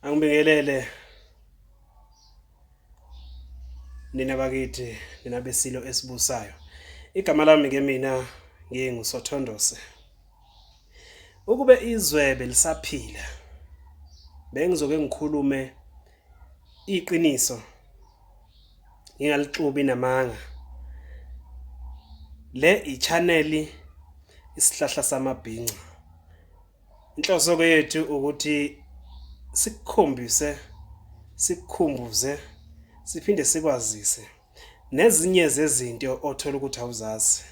Angibingelele nina bakithi nina besilo esibusayo. Igama lami ke mina nginguSothondose. Ukube izwe belisaphila bengizoke ngikhulume iqiniso ngingalixubi namanga le i-channel isihlahla samabhinca inhloso ke yethu ukuthi sikukhombise sikukhumbuze siphinde sikwazise Nezinye zezinto othola ukuthi awuzazi.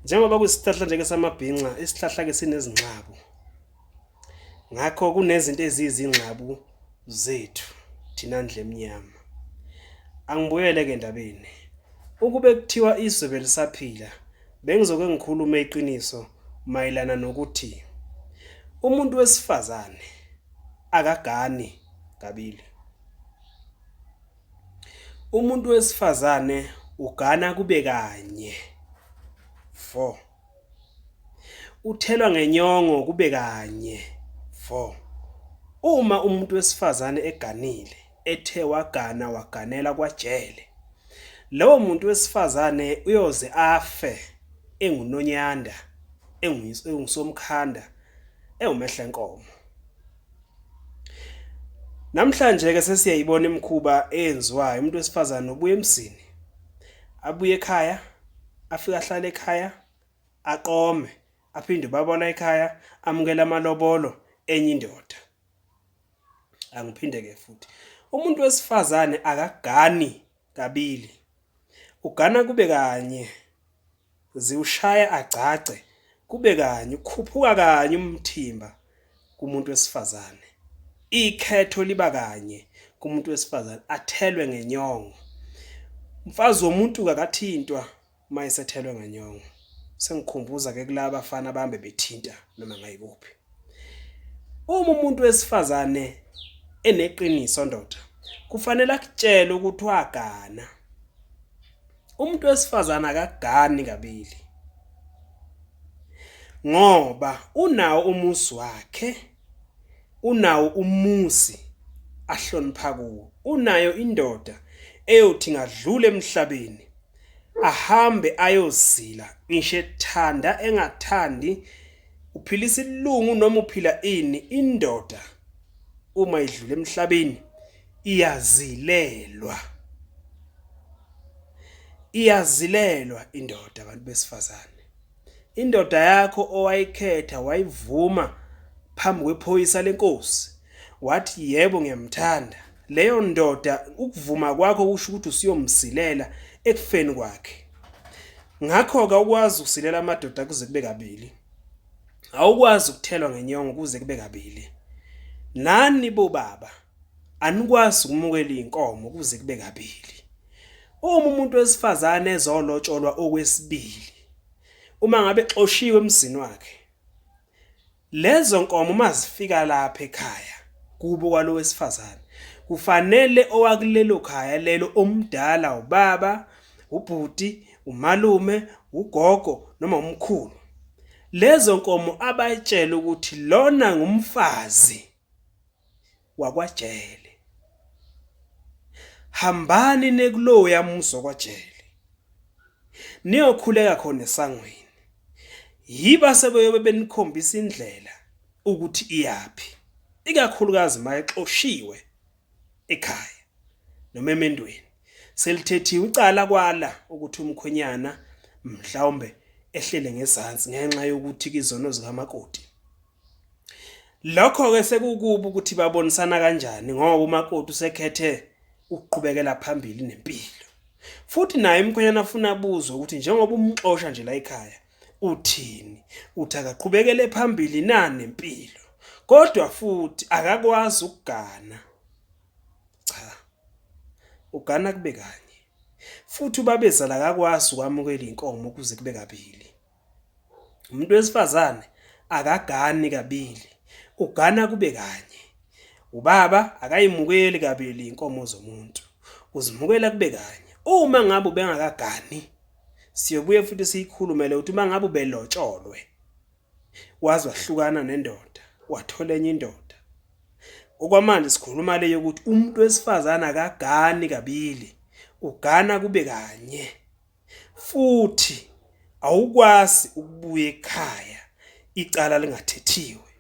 Njengoba kuyisihlahla nje-ke samabhinca, isihlahla-ke sinezinxabu. Ngakho kunezinto eziyizingxabu zethu thina ndle emnyama. Angibuyele-ke endabeni. Ukube kuthiwa izwe belisaphila, bengizoke ngikhulume iqiniso mayelana nokuthi umuntu wesifazane akagani kabili. Umuntu wesifazane ugana kube kanye. 4. Uthelwa ngenyongo kube kanye. 4. Uma umuntu wesifazane eganile ethe wagana waganela kwajele lowo muntu wesifazane uyoze afe engunonyanda engusomkhanda ewumehlenkomo. Namhlanje ke sesiyayibona imkhuba eyenziwayo umuntu wesifazane ubuye emzini abuye ekhaya afika ahlale ekhaya aqome aphinde babona ekhaya amukela amalobolo enye indoda angiphinde ke futhi umuntu wesifazane akagani kabili, ugana kube kanye, ziwushaya agcagce kube kanye, ukhuphuka kanye umthimba kumuntu wesifazane, ikhetho liba kanye kumuntu wesifazane, athelwe ngenyongo. Umfazi womuntu-ke akathintwa uma esethelwe ngenyongo sengikhumbuza ke kulaba bafana bambe bethinta noma ngayikuphi uma umuntu wesifazane eneqiniso ndoda kufanele akutshele ukuthi wagana umuntu wesifazane akagani kabili ngoba unawo umuzi wakhe unawo umuzi ahlonipha kuwo unayo indoda eyothi ngadlula emhlabeni ahambe ayozila ngisho ethanda engathandi uphila isilungu noma uphila ini indoda uma idlula emhlabeni iyazilelwa iyazilelwa indoda abantu besifazane Indoda yakho owayikhetha wayivuma phambi kwephoyisa lenkosi wathi yebo ngiyamthanda leyo ndoda ukuvuma kwakho kusho ukuthi usiyomsilela ekufeni kwakhe ngakho-ke awukwazi ukusilela amadoda kuze kube kabili awukwazi ukuthelwa ngenyongo kuze kube kabili nani bobaba anikwazi ukumukela iy'nkomo kuze kube kabili uma umuntu wesifazane ezolotsholwa okwesibili uma ngabe xoshiywe emzini wakhe lezo nkomo uma zifika lapha ekhaya kubo kwalo wesifazane kufanele owakulelo khaya lelo omdala ubaba ubhuti umalume ugogo noma umkhulu lezo nkomo abayitshela ukuthi lona ngumfazi wakwajele. Hambani nekuloya muzi wakwajele. Niyokhuleka khona esangweni. Yiba sebeyobe benikhombisa indlela ukuthi iyaphi. Ikakhulukazi mayexoshiwe ekhaya noma emendweni. Selithethiwe icala kwala ukuthi umkhwenyana mhlawumbe ehlele ngezansi ngenxa yokuthi kizono zikamakoti. Lokho-ke sekukubi ukuthi babonisana kanjani ngoba umakoti usekhethe ukuqhubekela phambili nempilo. Futhi naye umkhwenyana afuna abuzwe ukuthi njengoba umxosha nje la ekhaya uthini? Uthi akaqhubekele phambili na nempilo? Kodwa futhi akakwazi ukugana. Cha. Ugana kube kanye. Futhi ubabezala akakwazi ukwamukela inkomo kuze kube kabili. Umuntu wesifazane akagani kabili, ugana kube kanye. Ubaba akayimukeli kabili inkomo zomuntu, uzimukela kube kanye. Uma ngabe ubengakagani, siyobuye futhi siyikhulumele ukuthi uma ngabe ubelotsholwe waze wahlukana nendoda, wathola enye indoda. Okwamanje sikhuluma le yokuthi umuntu wesifazane akagani kabili, ugana kube kanye. Futhi awukwazi ukubuya ekhaya icala lingathethiwe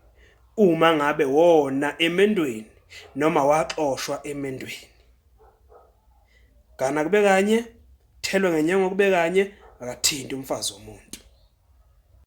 uma ngabe wona emendweni noma waxoshwa emendweni. Gana kube kanye, thelwe ngenyongo kube kanye, akathinti umfazi womuntu.